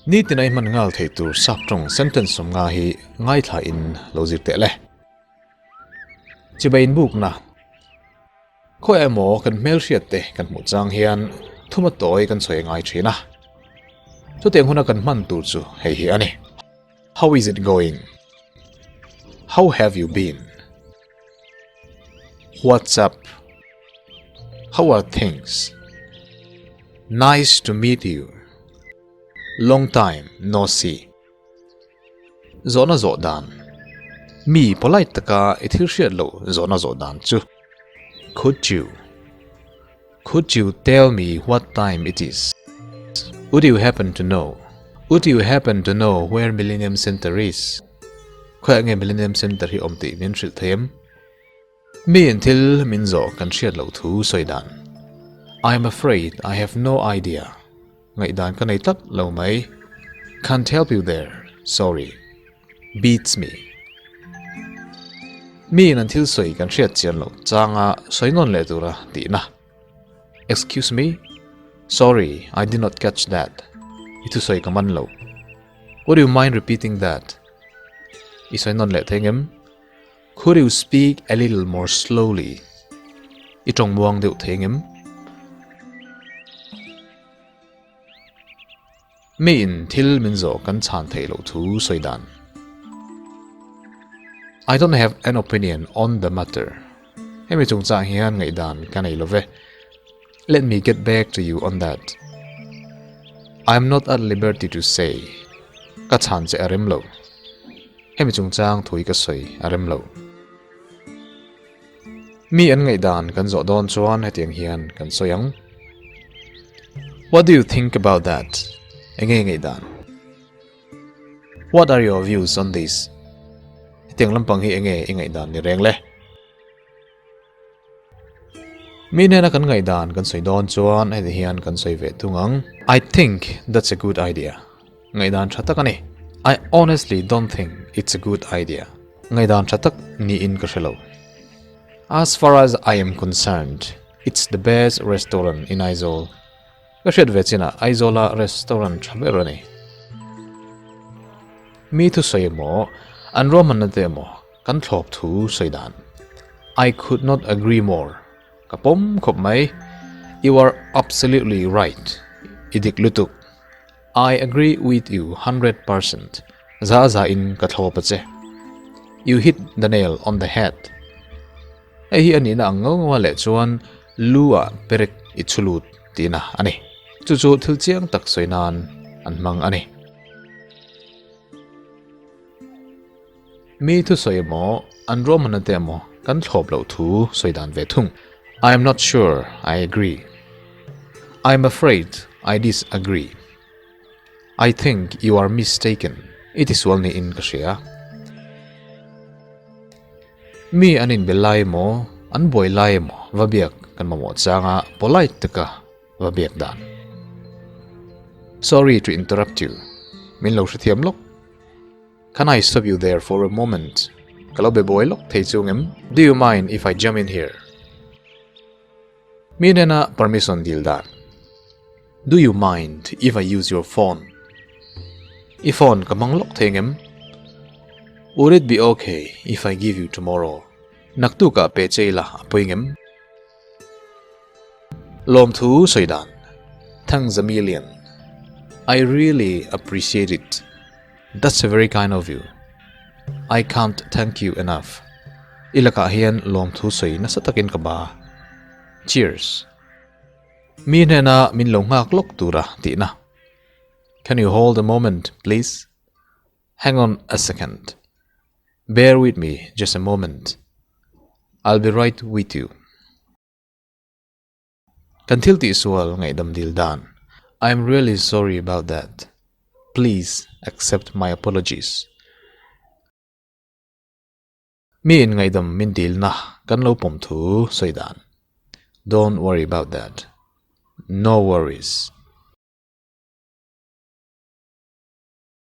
Nitin aih hman nghal thei tur sak tawng sentence awm nga hi ngaithla in lo zir teh le. Chibai inbukna. Khaw emaw kan hmelhriat te kan hmuh chang hian thuma tawi kan chhawi ngai thin a, chutiang huna kan hman tur chu hei hi a ni, How is it going? How have you been? What's up? How are things? Nice to meet you. Long time no see. Zawhna zawh dan. Mi polite taka i thil hriat loh zawhna zawh dan chu. Could you Could you tell me what time it is? Would you happen to know Would you happen to know where Millennium Centre is? Khawiah nge Millennium Centre hi awm tih min hrilh thei em? Miin thil min zawh kan hriat loh thu sawi dan. I'm afraid I have no idea. Ngaihdan ka nei tlat lo mai. Can't help you there. Sorry. Beats me. Miin an thil sawi kan hriat chian lo changa sawi nawn leh tura tihna. Excuse me? Sorry, I did not catch that. I thu sawi ka man lo. Would you mind repeating that? I sawi nawn leh thei ngem? Could you speak a little more slowly? I tawng muang deuh thei ngem? Mi in thil min zawh kan chhan thei lo thu sawi dan. I don't have an opinion on the matter. Hemi chungchang hian ngaihdan ka nei lo ve. Let me get back to you on that. I'm not at liberty to say. Ka chhan che a rem lo. Hemi chungchang thui ka sawi a rem lo. Mi an ngaih dan kan zawh dawn chuan hetiang hian kan sawi ang. What do you think about that? Enge ngaih dan? What are your views on this? Hetiang lampang hi enge i ngaih dan ni reng le? Mi hnena kan ngaih dan kan sawi dawn chuan heti hian kan sawi ve thung ang, I think that's a good idea. Ngaih dan tha tak a ni. I honestly don't think it's a good idea. Ngaih dan tha tak niin ka hre lo. As far as I am concerned, it's the best restaurant in Aizawl. Ka hriat ve chin a, Aizawl a restaurant tha ber a ni. Mi thusawi emaw, an ruahmanna te emaw, Kan thlawp thu sawi dan. I could not agree more, ka pawm khawp mai. You are absolutely right, i dik lutuk. I agree with you hundred percent, za za in ka thlawp a che. You hit the nail on the head. Hei hi a nihna ang ngau ngau a leh chuan lu a perek i chhu lut tihna a ni. Chu chu thil chiang tak sawi nan an hmang a ni. Mi thu sawi emaw an Roman ate emaw kan thlawp loh thu sawi dan ve thung. I am not sure, I agree. I am afraid, I disagree. I think you are mistaken, i tisual niin ka hria. Mi an inbel lai emaw an buai lai emaw va biak kan mamawh changa polite taka va biak dan. Sorry to interrupt you, min lo hrethiam lawk. Can I stop you there for a moment? Ka lo be buai lawk thei chung em? Do you mind if I jump in here? Mi nena permission dil dan. Do you mind if I use your phone? I phone ka hmang lawk thei ang em? Would it be okay if I give you tomorrow? Naktuka pehchei ila a puing em? Lawmthu sawi dan, Thanks Zamillion, I really appreciate it, that's a very kind of you, I can't thank you enough, i lakah hian lawmthu sawi nasa takin ka ba. Cheers. Mi hnena min lo nghak lawk tura tihna. Can you hold a moment please? Hang on a second, bear with me just a moment, I'll be right with you. Kan thil tih sual ngaihdam dil dan, I'm really sorry about that, please accept my apologies. Mi in ngaihdam min dilna kan lo pawm thu sawi dan, don't worry about that, no worries.